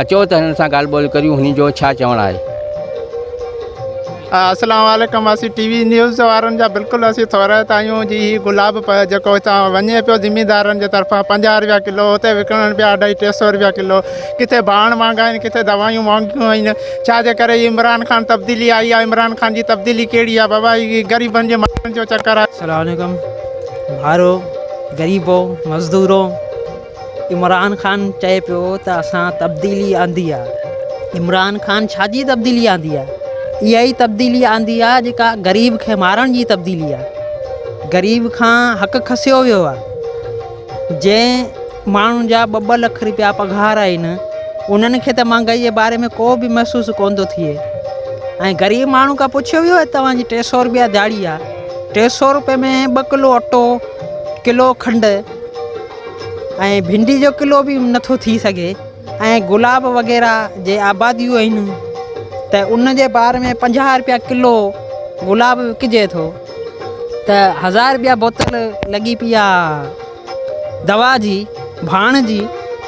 اچو ته هنن سان ڳالهه ٻولهه ڪريون هنن جو ڇا چوڻ آهي. السلام عليڪم اسين ٽي وي نيوز وارن جا بلڪل اسين ٿورائتا آهيون جي هي گلاب جيڪو هتان وڃي پيو زميندارن جي طرفان پنجاهه رپيا ڪلو هتي وڪڻن پيا اڍائي ٽي سو رپيا ڪلو ڪٿي ڀاڻ مهانگا آهن ڪٿي دوائيون مهانگيون آهن ڇا جي ڪري هي عمران خان تبديلي آئي آهي عمران خان جي تبديلي ڪهڙي آهي بابا هي غريبن جي ماڻهن جو چڪر آهي. سلام عليڪم ڀائرو غريبو مزدورو عمران خان چئي پيو ته اسان تبديلي آندي آهي، عمران خان ڇا جي تبديلي آندي آهي؟ اها ئي تبديلي آندي آهي جيڪا غريب کي مارڻ جي تبديلي آهي، غريب کان حق کسيو ويو آهي، جنهن ماڻهن جا ٻه ٻه لک رپيا پگهار آهن انهن کي ته مهانگائي جي باري ۾ ڪو به محسوس ڪونه ٿو ٿئي ۽ غريب ماڻهو کان پڇيو ويو آهي توهان جي ٽي سئو رپيا دهاڙي آهي ٽي سئو رپئي ۾ ٻه ڪلو اٽو ڪلو کنڊ ۽ ڀنڊي جو ڪلو به نٿو ٿي سگهي ۽ گلاب وغيره جي آباديون آهن ته ان جي بار ۾ پنجاهه روپيا ڪلو گلاب وڪجي ٿو ته هزار روپيا بوتل لڳي پيا دوا جي ڀاڻ جي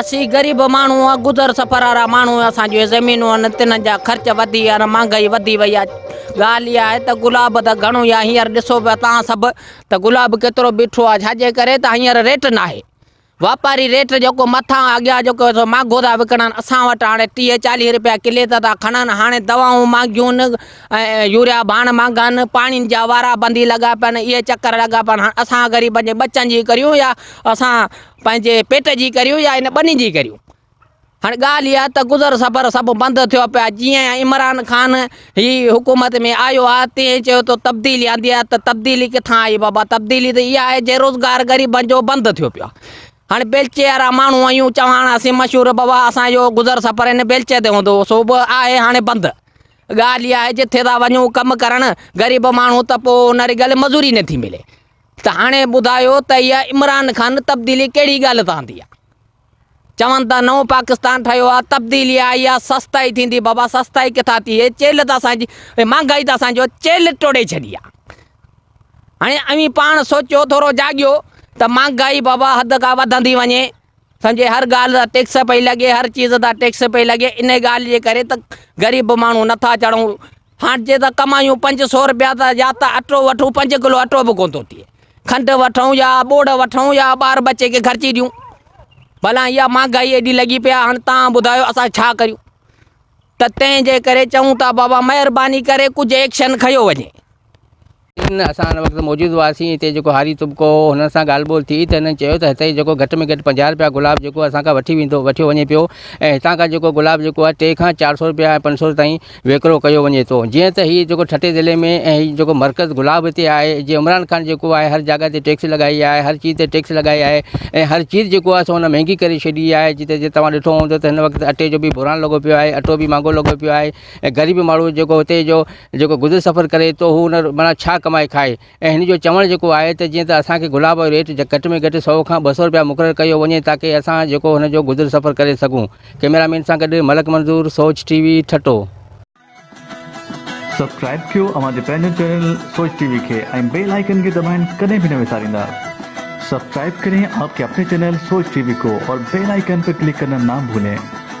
اسين غريب ماڻهو آ گذر سفر وارا ماڻهو آ اسان جون زمينون آهن تنهن جا خرچ وڌي ويا آهن مهانگائي وڌي وئي آ ڳالهه اها آهي ته گلاب ته گهڻو آ هينئر ڏسو پيا تهان سڀ ته گلاب ڪيترو بيٺو آ ڇاجي ڪري ته هينئر ريٽ ناهي واپاري ريٽ جيڪو مٿان اڳيان جيڪو سو مهانگو ٿا وڪڻن اسان وٽ هاڻي ٽيهه چاليهه رپيا ڪلي ته ٿا کڻن هاڻي دوائون مهانگيون آهن ۽ يوريا ڀاڻ مهانگا آهن پاڻين جا وارا بندي لڳا پيا آهن اهي چڪر لڳا پيا آهن هاڻي اسان غريبن جي ٻچن جي ڪريون يا اسان پنهنجي پيٽ جي ڪريون يا هن ٻني جي ڪريون هاڻي ڳالهه اها ته گذر سفر سڀ بند ٿيو پيا جيئن عمران خان هي حڪومت ۾ آيو آ تيئن چيو ته تبديلي آندي آ ته تبديلي ڪٿان آئي بابا تبديلي ته اها آهي جي روزگار غريبن جو بند ٿيو پيو آ هاڻي بيلچي وارا ماڻهو آهيون چواڻ آسين مشهور بابا اسان جو گذر سفر هن بيلچي تي هوندو هو سو به آهي هاڻي بند ڳالهه اها آهي جتي ٿا وڃون ڪم ڪرڻ غريب ماڻهو ته پوء ان رڳل مزوري نٿي ملي ته هاڻي ٻڌايو ته اها عمران خان تبديلي ڪهڙي ڳالهه تان آندي آهي؟ چون ٿا نئون پاڪستان ٺهيو آهي، تبديلي آئي آهي، سستائي ٿيندي، بابا سستائي ڪٿان ٿي؟ هي چيلهه ته اسان جي، هي مهانگائي ته اسان جو چيلهه ٽوڙي ڇڏي آهي. هاڻي اوهين پاڻ سوچيو، ٿورو جاڳيو ته مهانگائي بابا حد کان وڌندي وڃي، سمجهي هر ڳالهه تان ٽيڪس پئي لڳي هر چيز تان ٽيڪس پئي لڳي انهي ڳالهه جي ڪري ته غريب ماڻهو نٿا چڙهون هاڻ جي ته ڪمايون پنج سو روپيا ته يا ته اٽو وٺون پنج ڪلو اٽو به ڪونه ٿو ٿئي کنڊ وٺون يا ٻوڙ وٺون يا ٻار بچي کي خرچي ڏيون بلا اها مهانگائي ايڏي لڳي پيا هاڻ تان ٻڌايو اسان ڇا ڪريون ته تنهن جي ڪري چئون ٿا بابا مهرباني ڪري ڪجهه ايڪشن کنيو وڃي ان اسان ان وقت موجود هئاسين هتي جيڪو هاري طبقو هو هنن سان ڳالهه ٻولهه ٿي ته هنن چيو ته هتي جيڪو گهٽ ۾ گهٽ پنجاهه رپيا گلاب جيڪو اسان کان وٺي ويندو وٺيو وڃي پيو ۽ هتان کان جيڪو گلاب جيڪو آهي ٽي کان چار سو رپيا ۽ پنج سو تائين ويڪرو ڪيو وڃي ٿو جيئن ته هي جيڪو ٺٽي ضلعي ۾ ۽ هي جيڪو مرڪز گلاب هتي آهي جي عمران خان جيڪو آهي هر جاڳا تي ٽيڪس لڳائي آهي هر چيز تي ٽيڪس لڳائي آهي ۽ هر چيز جيڪو آهي سو هن مهنگي ڪري ڇڏي آهي جتي جي توهان ڏٺو هوندو ته هن وقت اٽي جو بي بحران لڳو پيو آهي اٽو بي مهانگو لڳو پيو آهي ۽ غريب ماڻهو جيڪو هتي جو جيڪو گذر سفر ڪري تو هو ان مڙان ڇا ڪمائي کائي ۽ هن جو چوڻ جيڪو آهي ته جيئن ته اسان کي گلاب جو ريٽ گهٽ ۾ گهٽ سؤ کان ٻه سؤ رپيا مقرر ڪيو وڃي تاڪي اسان جيڪو هن جو گذر سفر ڪري سگهون ڪئميرا مين سان گڏ Malik Manzoor Soch T V Thatta. Subscribe ڪيو اوهان جي پنهنجو چينل سوچ ٽي وي کي ۽ بيل آئيڪن کي دٻائڻ ڪڏهن به نه وساريندا سبسڪرائب ڪرين آپ ڪي اپني چينل سوچ ٽي وي ڪو اور بيل آئيڪن پي ڪلڪ ڪرنا نا ڀولين.